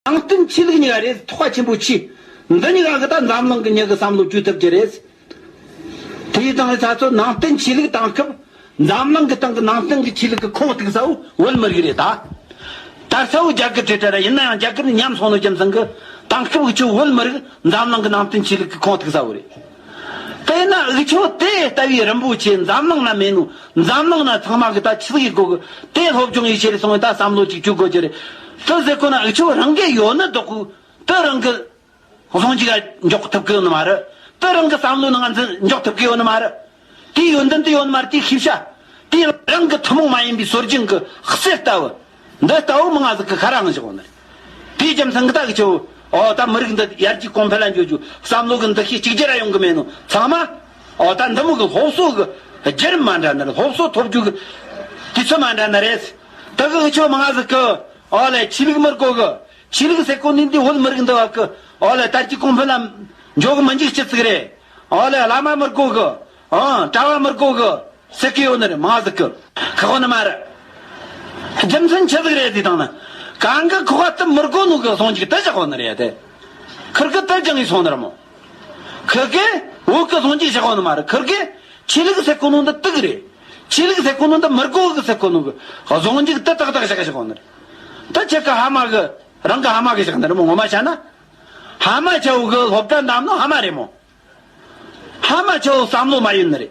ནང་བསྟན་ཆོས་ལུགས་གཉིས་ཀ་རེད་ཐོག་ཆེན་པོ་མཆིས། འདི་གཉིས་ཀ་གི་ད་འཛམ་གླིང་གི་མྱི་གི་བསམ་བློ་བཅོས་ཐུབ་ཀྱི་རེད། དེའི་སྟེང་ནས་ད་གཟོད་ནང་བསྟན་ཆོས་ལུགས་བཏང་སྐབས་འཛམ་གླིང་གི་སྟེང་གི་ནང་བསྟན་གི་ཆོས་ལུགས་གི་ཁོག་རྟིག་ས་བོ་བོད་མི་རིགས་རེད་ད། ད་ས་བོ་རྒྱ་གར་བྲེལ་བྲེལ་ར་ཡིན་ན་ཡང་རྒྱ་གར་ནས་ཉམས་སོང་ནོ་རྒྱུ་མཚན་གི་བཏང་སྐབས་གི་ཁྱོད་བོད་མི་རིགས་འཛམ་གླིང་གི་ནང་བསྟན་ཆོས་ལུགས་གི་ཁོག་རྟིག་ས་བོ་རེད། དཔེར་ན་དབུས་ཕྱོགས་དེ་ལྟ་བུའི་རིན་པོ་ཆེ་འཛམ་གླིང་ན་མེད་ནོ། འཛམ་གླིང་ན་ཚང་མ་གི་ད་ཆིལ་གི་དགོས་གི། དེ་སློབ་སྦྱོང་ཡིད་ཆེས་ལ་སོང་བའི་ད་བསམ་བློ་གཅིག་གྱུར་དགོས་ཀྱི་རེད། དུ་ཟེར་ཁོ་ན་དབུས་ཕྱོགས་རང་གི་ཡོད་ནི་འདོག་གི། དུ་རང་གི། ལྷུང་འཇུག་ཡ་འཇོག་ཐུབ་གི་ཡོད་ནི་མ་རེད། དུ་རང་གི་བསམ་བློ་ནི་ང་ཚོས་འཇོག་ཐུབ་གི་ཡོད་ནི་མ་རེད། དེའི་ཡོན་ཏན་དུ་ཡོད་ནི་མ་རེད་དེའི་ཤེས་བྱ། དེའི་རང་གི་ཐུན་མོང་མ་ཡིན་པའི་སྲོལ་རྒྱུན་གི་གསེར་ལྟ་བུ། འདི་ལྟ་བུ་མི་ང་ཟིག་གི་ཁ་རང་བཞག་ནི། དེའི་རྒྱུ་མཚན་གི་ད་གི་ཆུ། ཨོ་ད་མི་རིགས་འདི་ཡར་རྒྱས་གོང་འཕེལ་ལ་འགྱུར་རྒྱུ་བསམ་བློ་གི་འདུ་ཤེས་གཅིག་རྗེས་ར་ཡོང་གི་མེད་ནོ་ཚང་མ། ཨོ་ད་འདི་མི་གི་སློབ་གསོ་གི་བརྒྱུད་རིམ་མ་འདྲ་ནི་སློབ་གསོ་ཐོབ་རྒྱུ་གི་དུས་ཚོད་མ་འདྲ་ནི་རེད། དེ་གི་གི་ཆུ་མི་ང་ཟིག་གི། ཨོ་ལེ་ཆོས་ལུགས་མི་རིགས་གོ་གི། ཆོས་ལུགས་ཟེར་གོ་ནི་འདི་བོད་མི་རིགས་འདི་བ་གི། ཨོ་ལེ་དར་རྒྱས་གོང་འཕེལ་ལ་འཇོག་གི་མི་འཇུག་ཅི་ཟིག་རེད། ཨོ་ལེ་བླ་མ་མི་རིགས་གོ་གི། གྲྭ་བ་མི་དགོ་གི། སི་ཀི་ཡོ་ནི་རེད་མ་གཟིག་གི། ཁག་པ་ནི་མ་རེད། རྒྱུ་མཚན་ཆི་ཟིག་རེད་དེའི་དང་ནི། གང་གི་ཁོག་པ་ཏི་མི་དགོ་ནུ་གི་སོང་འཇིག་ཏི་ཞག་པ་ནི་རེད་དེ། ཁིར་གི་ཏི་རྒྱང་གིས་སོང་ནི་རེད་མོ། ཁི་གི། འུག་གི་སོང་འཇིག་ཞག་པ་ནི་མ་རེད་ཁིར་གི། ཆི་ལིག་སེ་ཀོ་ནུ་འདི་ཏི་གི་རེད། ཆི་ལིག་སེ་ཀོ་ནུ་འདི་མི་དགོ་གི་སེ་ཀོ་ནུ་གི། སོང་འཇིག་ཏི་ཏག་ཏག་ཞག་ཞག་པ་ནི་རེད། ཏི་ཆི་གི་ཧ་མ་གི། རང་གི་ཧ་མ་གི་ཞག་ནི་རེད་མོ་ངོ་མ་བྱ་ན། ཧ་མ་བྱ་བུ་གི་སློབ་གྲྭ་འདམ་ནི་ཧ་མ་རེད་མོ། ཧ་མ་ཆ་བོ་བསམ་བློ་མ་ཡོད་ནི་རེད།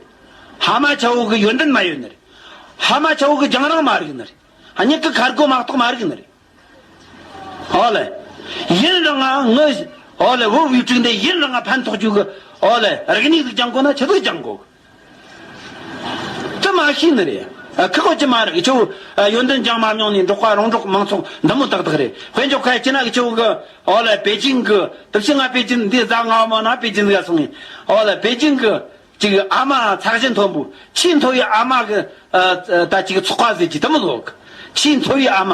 ཧ་མ་ཆ་བོ་གི་ཡོན་ཏན་མ་ཡོད་ནི་རེད། ཧ་མ་ཆ་བོ་གི་རྒྱང་རིང་མ་རིག་ནི་རེད། སྙིང་གི་ཁར་སྒོ་མ་གཏོགས་མ་རིག་ནི་རེད། ཨོ་ལེ། ཡིན་རང་ང་ངུ། ཨོ་ལེ་བུ་བུའི་དྲུག་འདི་ཡིན་རང་ང་ཕན་ཐོགས་རྒྱུ་གི། ཨོ་ལེ། རིག་སྙིགས་གཟུགས་ཀྱང་གོ་ན་ཆུ་གཟུགས་ཀྱང་གོ་གི། ཅི་མ་ཤེས་ནི་རེད། ཁག་བོད་ཀྱི་མ་རིག་ཆུ་བོ། ཡོན་ཏན་ལྗང་མ་རྙོག་ནས་འབྲོག་པ་རོང་འབྲོག་མང་ཚོགས་འདི་མོ་ཏག་ཏག་རེད། བོད་འབྱོར་ཁ་ཡི་སྐྱི་ནག་གི་ཆུ་བོ་གི། ཨོ་ལེ་པེ་ཅིང་གི། དུག་ཤིང་ང་པེ་ཅིང་འདི་བཟའ་ང་བ་མོ་ན་པེ་ཅིང་ག་སོང་ངས། ཨོ་ལེ་པེ་ཅིང་གི། ཅིག་ཨ་མ་ཚགས་ཤིང་མཐོན་པོ། ཆེས་མཐོ་བའི་ཨ་མ་གི། ད་ཅིག་ཚོགས་པ་ཟེར་གྱི་དི་མི་ལོག་གི། ཆེས་མཐོ་བའི་ཨ་མ།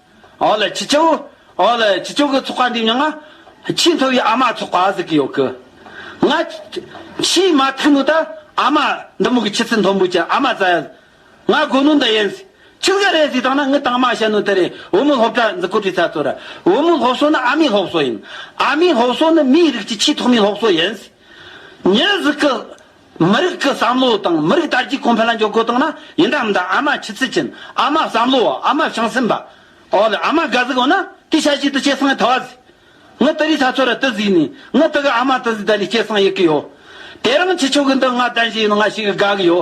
ཨོ་ལེ་ཁྱི་སྤྱང། ཨོ་ལེ་ཁྱི་སྤྱང་གི་ཚོགས་པ་འདིའི་མྱང་ང། ཆེས་མཐོ་བའི་ཨ་མ་ཚོགས་པ་ཟིག་གི་ཡོད་གི། ང། ཆེས་མ་མཐའ་མུ་ད། ཨ་མ། འདི་མུ་གི་ཁྱི་ཚི་མཐོན་པོ་ཅི་ཨ་མ་ཙ་ཡ། ང་དགོས་ནུ་འདི་ཡིན། ཁྱི་ཟ་རེད་ཟིག་དང་ན་ངི་དང་མ་བྱ་ནུ་དེ་རེད་བུ་མོ་སློབ་གྲྭ་འཛི་ཀོ་བྲི་ས་ཚོ་ར། བུ་མོ་སློབ་གསོ་ནི་ཨ་མའི་སློབ་གསོ་ཡིན། ཨ་མའི་སློབ་གསོ་ནི་མིའི་རིགས་ཀྱི་ཆེས་ཐོག་མའི་སློབ་གསོ་ཡིན། ཉི་ཟིག་གི། མི་རིགས་ཀྱི་བསམ་བློ་དང་མི་རིགས་དར་རྒྱས་གོང་འཕེལ་ལ་འཇོག་དགོས་དང་ན་ཡིན་དང་མིན་དང་ཨ་མ་ཆུ་ཚོད་ཅན་ཨ་མ་བསམ་བློ་བ་ཨ་མ་བྱང་སེམས་པ་འོ་ལེ་ཨ་མ་དགའ་གཟིགས་འོ་ན་དེ་ཤ་ཞིག་ཏུ་སྐྱེས་སངས་ཐ་བ་ཟིག་ངི་ཏི་རི་ས་ཚོ་ར་ཏི་ཟིག་ནི་ངི་ཏི་གི་ཨ་མ་ཏི་ཟིག་ད་ལི་སྐྱེས་སངས་ཡི་གི་ཡོ་དེ་རང་ཁྱི་ཆོ་གི་འདི་ང་ལྡན་ཞིག་ཡིན་ན་ང་ཞིག་གི་དགའ་གི་ཡོ་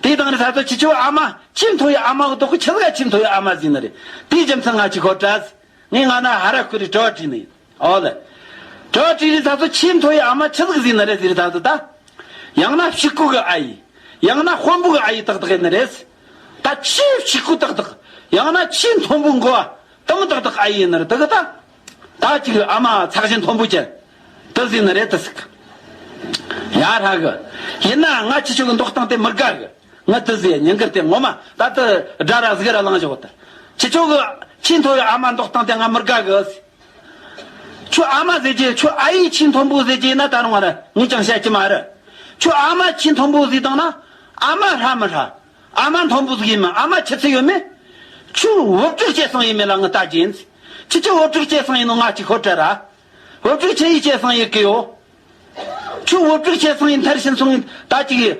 དེ་དང་རི་ས་ཚོ་ཁྱི་ཆོ་གི་ཨ་མ་ཁྱིམ་ཐོ་ཡི་ཨ་མ་གི་ཏོག་གི་ཁྱི་ཟ་ག་ཁྱིམ་ཐོ་ཡི་ཨ་མ་ཟིག་ནི་རེད་དེའི་རྒྱུ་མཚན་ང་ཅིག་ཧོར་གྲ་ཟིག། ངས་སྔ་ན་ཧ་ར་ཁུ་རི་ཏྲོ་ཏྲི་ནི་ཨོ་ལི། ཏྲོ་ཏྲི་རི་ད་གཟོད་ཆེས་མཐོ་བའི་ཨ་མ་ཆི་ལིག་ཟི་ནི་རེད་ཟི་རི་ད་གཟོད་ད། ཡང་ན་བཤིག་ཁུག་གི་ཨ་ཡི། ཡང་ན་དཔོན་པོ་གི་ཨ་ཡི་ཏག་ཏག་ཨེ་ནི་རེད། ད་ཆེས་བཤིག་ཁུག་ཏག་ཏག། ཡང་ན་ཆེས་མཐོན་པོའི་མགོ་ཨ་ཏམ་ཏག་ཏག་ཨ་ཡི་ཨེ་ནི་རེད་ཏག་ཏག། ད་ཅིག་གི་ཨ་མ་ཚག་ཞིང་མཐོན་པོ་ཅན། ཏི་ཟི་ནི་རེད་ཏི་ཟི་ཀི། ཡ་ཧྲ་གི། ཡིན་ནའང་ང་ཆི་ཆོ་གི་འདོགས་སྟངས་དེ་མི་དགའ་གི། ངའི་ཏི་ཟེ་ཉིན་འགར་དེ་ངོ་མ་ད་ཏི་སྒྲ་ར་གཟིགས་ར་གླང་བཞག་ཏི། ཁྱི་ཁྱོ་གི་ཁྱི་མཐོ་བའི་ཨ་མ་མདོག་སྟངས་དེ་ང་མི་དགའ་གི། ཁྱོད་ཨ་མ་ཟེར་གྱི་ཁྱོད་ཨ་ཡིས་ཁྱི་མཐོན་པོ་ཟེར་གྱི་ན་ད་རུང་ང་ར་ངས་ཀྱང་བཤད་ཀྱི་མ་རེད། ཁྱོད་ཨ་མ་ཁྱི་མཐོན་པོ་ཟིག་དང་ན་ཨ་མ་ཧྲ་མི་ཧྲ། ཨ་མ་མཐོན་པོ་ཟིག་ཡིན་མིན་ཨ་མ་ཁྱི་ཚི་ཡོད་མེད། ཁྱོས་བུབ་ཅོག་སྐྱེས་སངས་ཡིན་མིན་ལ་ངས་ལྟ་གྱིན། ཁྱི་ཁྱོད་བུབ་ཅོག་སྐྱེས་སངས་ཡིན་ནོ་ང་གཅིག་ཧོར་བྲལ་ར། འོད་དཀྲུགས་ཆེ་ཡི་སྐྱེས་སངས་ཡི་གིའོ། ཆུ་འོད་དཀྲུགས་ཆེ་སངས་ཡི་མཐར་ཕྱིན་སོང། ད་ཅིག་ཡི།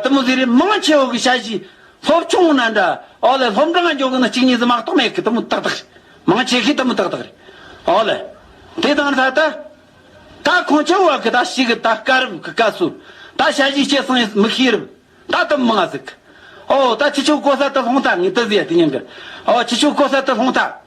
དུ་མུ་ཟི་རི་མང་ཆེ་འོད་གི་ཞལ་བཞི། ལྷོབ་ཆུང་ངུ་ན་འདྲ། ཨོ་ལེ་ལྷོབ་འདྲ་ང་འཇོག་གི་ནི་གཅིག་གཉིས་སུ་མ་གཏོགས་མེད་གི་དུ་མུ་ཏག་ཏག་རེད། མང་ཆེ་གི་དུ་མུ་ཏག་ཏག་རེད། ཨོ་ལེ། དེ་དང་ལྷ་ད། ད་ཁོང་ཁྱེད་འོད་གི་ད་ཞིག་གི་ད་སྐ་རུབ་གི་སྐ་སུ། ད་ཞལ་བཞི་སྐྱེས་སངས་ཡི་མུ་ཤི་རུབ། ད་དུ་མུ་ང་ཟིག་གི། ཨོ། ད་ཁྱི་ཆུ་ཀོ་ས་ཏི་ལྷོང་ཐ་ངི་ཏི་ཟི་ཡ་ཏི་ཉིང་གི། ཨོ་ཁྱི་ཆུ་ཀོ་ས་ཏི་ལྷོང་ཐ།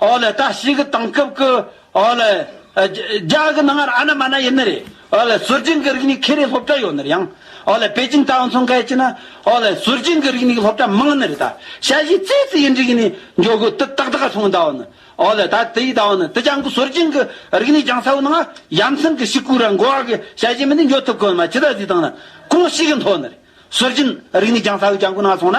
ཨོ་ལེ་ལྟ་ཞིག་གི་དེང་སྐབས་ཀྱི་ཨོ་ལེ། རྒྱ་གི་ནང་ཨ་ན་མ་ན་ཡིན་ནི་རེད་ཨོ་ལེ་ཟུར་རྒྱན་གྱི་རིག་གནས་ཁེ་རེ་སློབ་གྲྭ་ཡོད་ནི་རེད་ཡང་ཨོ་ལེ་པེ་ཅིན་ཏའོ་མཚོ་འཁལ་གྱི་ན་ཨོ་ལེ་ཟུར་རྒྱན་གྱི་རིག་གནས་ཀྱི་སློབ་གྲྭ་མང་ནི་རེད་ད་ཤ་བཞི་རྩེ་རྩེ་ཡི་རིག་གནས་འཇོག་གི་དུ་ཏག་ཏག་སོང་ད་ཨོ་ནི་ཨོ་ལེ་ད་དེ་ཡི་ད་ཨོ་ནི་དེ་རྒྱང་གི་ཟུར་རྒྱན་གྱི་རིག་གནས་རྒྱང་ས་བོ་ནང་ཨ་ཡ་མཚན་གྱི་ཤི་ཀུ་ར་མགོ་བ་གི་ཤ་བཞི་མི་ནི་འཇོག་ཐུབ་གི་ཨོ་ན་མ་ཇི་ད་ཟི་དང་ན་གང་ཞིག་གི་མཐོ་ནི་རེད་ཟུར་རྒྱན་རིག་གནས་རྒྱང་ས་བོ་རྒྱང་གི་ནང་སོང་ན།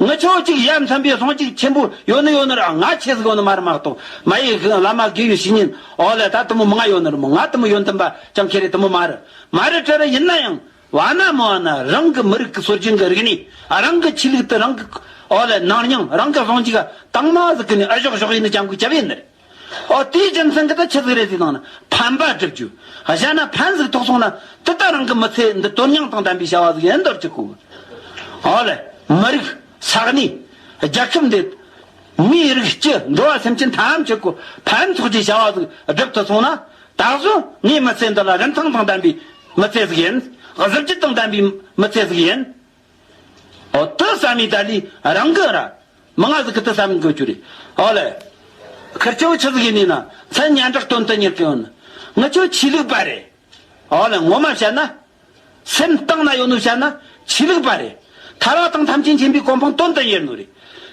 ངི་ཆོས་གཅིག་གཞན་མཚོན་པའི་ཟུང་གཅིག་ཆེན་པོ་ཡོད་ནི་ཡོད་ནི་ར་ང་ཆེ་ཟིག་ཡོད་ནི་མ་རི་མ་གཏོ་མ་ཡི་གི་བླ་མ་དགེ་བའི་བཤེས་གཉེན་འོ་ལེ་ད་དུ་མོ་མི་ང་ཡོད་ནི་རི་མོ་ང་དུ་མོ་ཡོད་འདི་འབའ་ཅང་ཁེ་རེ་དུ་མོ་མ་རི་མ་རི་ཀྲི་རི་ཡིན་ན་ཡང་བ་ན་མི་བ་ན་རང་གི་མི་རིགས་ཀི་སྲོལ་རྒྱུན་གི་རིག་གནས་རང་གི་ཆོས་ལུགས་དུ་རང་གི་འོ་ལེ་ནང་སྙིང་རང་གི་ཟུང་གཅིག་གི་དྭངས་མ་ཟིག་གི་ནི་ཨི་ཞོག་ཞོག་ཡིན་ནི་ཅང་གུས་བྱ་བའི་ནི་རེད། ཨོ་དེའི་རྒྱུ་མཚན་གྱིས་ད་ཁྱི་གཟིགས་རེ་གཟིགས་དང་ནི་ཕན་པ་བསྒྲུབ་རྒྱུ། གཞན་ན་ཕན་གཟིགས་ཐོག་སོང་ན་དེ་ལྟར་རང་གི་མི་ཚེ་འདི་དོན་སྙིང་དང་ལྡན་པའི་བྱ་བ་གཟིགས་ཡིན་འདོར་གྱི་ཁོ་བོས། ཨོ་ལེ། མི་རིགས། ས་གནས། རྒྱལ་ཁབ་འདི། མིའི་རིགས་སྤྱི་འགྲོ་བ་སེམས་ཅན་ཐམས་ཅད་ཀྱི་ཕན་ཐོགས་ཀྱི་བྱ་བ་གཟིགས་བསྒྲུབ་ཐུབ་སོང་ན། ད་གཟོད་ངའི་མི་ཚེ་འདི་ལ་རིན་ཐང་དང་ལྡན་པའི་མི་ཚེ་ཟིག་ཡིན། གཟི་བརྗིད་དང་ལྡན་པའི་མི་ཚེ་ཟིག་ཡིན། ཨོ་ཏི་ས་མི་ཏཱ་ལི་རང་གི་ར། མི་ང་ཟི་ཁི་ཏི་ས་མི་གོ་ཅུ་རི། ཨོ་ལེ། ཁིར་ཅོ་ཆི་ཟི་ཁི་ནི་ན་ཚན་སྙན་གྲགས་དོན་དུ་གཉེར་ཀི་ཨོ་ནི། ངི་ཅོ་ཆི་ལིག་པ་རེ། ཨོ་ལེ་ངོ་མ་བཤད་ན། སེམས་གཏིང་ན་ཡོད་ནུ་བཤད་ན། ཆི་ལིག་པ་རེ། ཐ་རག་དང་ཐམས་ཅད་མཁྱེན་པའི་གོ་འཕང་དོན་དུ་གཉེར་ནུ་རེ།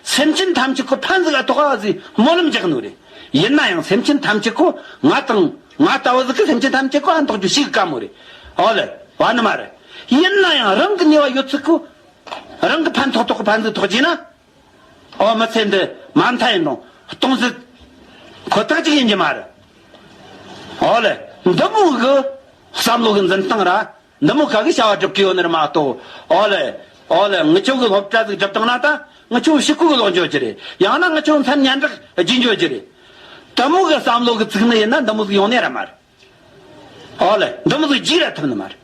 སེམས་ཅན་ཐམས་ཅད་ཀུ་ཕན་ཟི་ག་ཐོག་ཨ་ཟི་སྨོན་ལམ་རྒྱག་ནུ་རེ། ཡིན་ན་ཡང་སེམས་ཅན་ཐམས་ཅད་ཀུ་ང་དང། ང་ལྟ་བུ་ཟིག་གི་སེམས་ཅན་ཐམས་ཅད་ཀུ་ཨན་དག་རྒྱུ་ཞིག་གི་བཀའ་མོ་རེད། ཨོ་ལེ། བ་ནི་མ་རེད། ཡིན་ན་ཡང་རང་གི་ནུས་བ་ཡོད་ཚུལ་གུ། རང་གི་ཕན་ཐོག་ཐོག་གི་ཕན་ཚུན་ཐོག་བྱས་ན། ཨོ་མི་ཚེ་འདི་མ་མཐའ་ཡིན་རུང་སྟོང་ཟིག། ཁོ་ཐག་ཅིག་ཡིན་གྱི་མ་རེད། ཨོ་ལེ། འདི་མོ་གི་བསམ་བློ་གི་འཛིན་སྟངས་ར་འདི་མོ་ག་གི་བྱ་བ་སྒྲུབ་ཀི་ཡོད་ནི་རི་མ་གཏོགས། ཨོ་ལེ། ཨོ་ལེ། ངི་ཆོ་གི་སློབ་གྲྭ་ཟིག་སྒྲུབ་བཏང་ན་ད། ངི་ཆོ་ཤི་ཁུག་གི་ལོག་འཇོག་རྒྱུ་རེད། ཡང་ན་ངི་ཆོ་མཚན་སྙན་གྲགས་བརྒྱུད་འཇོག་རྒྱུ་རེད། དི་མོ་གི་བསམ་བློ་གི་ཚིག་ནི་ཡིན་ན་འདི་མོ་ཟིག་ཡོང་ནི་ར་མ་རེད། ཨོ་ལེ། འདི་མོ་ཟིག་རྒྱུགས་ར་ཐུབ་ནི་མ་རེད།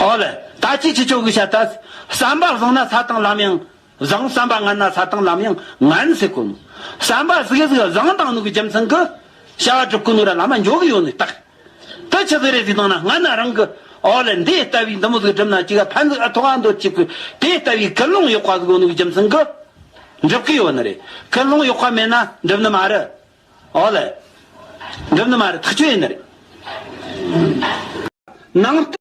ཨོ་ལེ། ད་ཅི་ཁྱི་ཆོ་གི་བྱ་ད། བསམ་པ་བཟང་ན་ས་དང་ལམ་ཡང། བཟང་བསམ་པ་ངན་ན་ས་དང་ལམ་ཡང་ངན་ཟེར་དགོས་མོད། བསམ་པ་གཟིགས་གཟིགས་བཟང་དང་ནུག་གི་རྒྱུ་མཚན་གྱི། བྱ་བ་སྒྲུབ་ཀྱི་ནུག་ར་ལ་མ་འཇོག་གི་ཡོད་ནི་རྟག། དེ་ཆི་ཟིག་རེ་ཟིག་བཏང་ན་ངན་ན་རང་གི། འོ་ལེ་འདི་ལྟ་བུའི་འདི་མོ་ཟིག་སྒྲུབ་ན་ཅི་ག་ཕན་ཟིག་ཨ་ཐུག་ཨ་འདོད་ཅིག་གི། དེ་ལྟ་བུའི་ཀི་སློང་གཡོག་པ་ཟིག་ཡོད་ནུག་གི་རྒྱུ་མཚན་གྱི། འགྲུབ་ཀྱི་ཡོད་ནི་རེད། ཀི་སློང་གཡོག་པ་མེད་ན་འགྲུབ་ནི་མ་རེད། འོ་ལེ། འགྲུབ་ནི་མ་རེད་ཐག་ཆོད་ཡིན་ནི་རེད། ནང།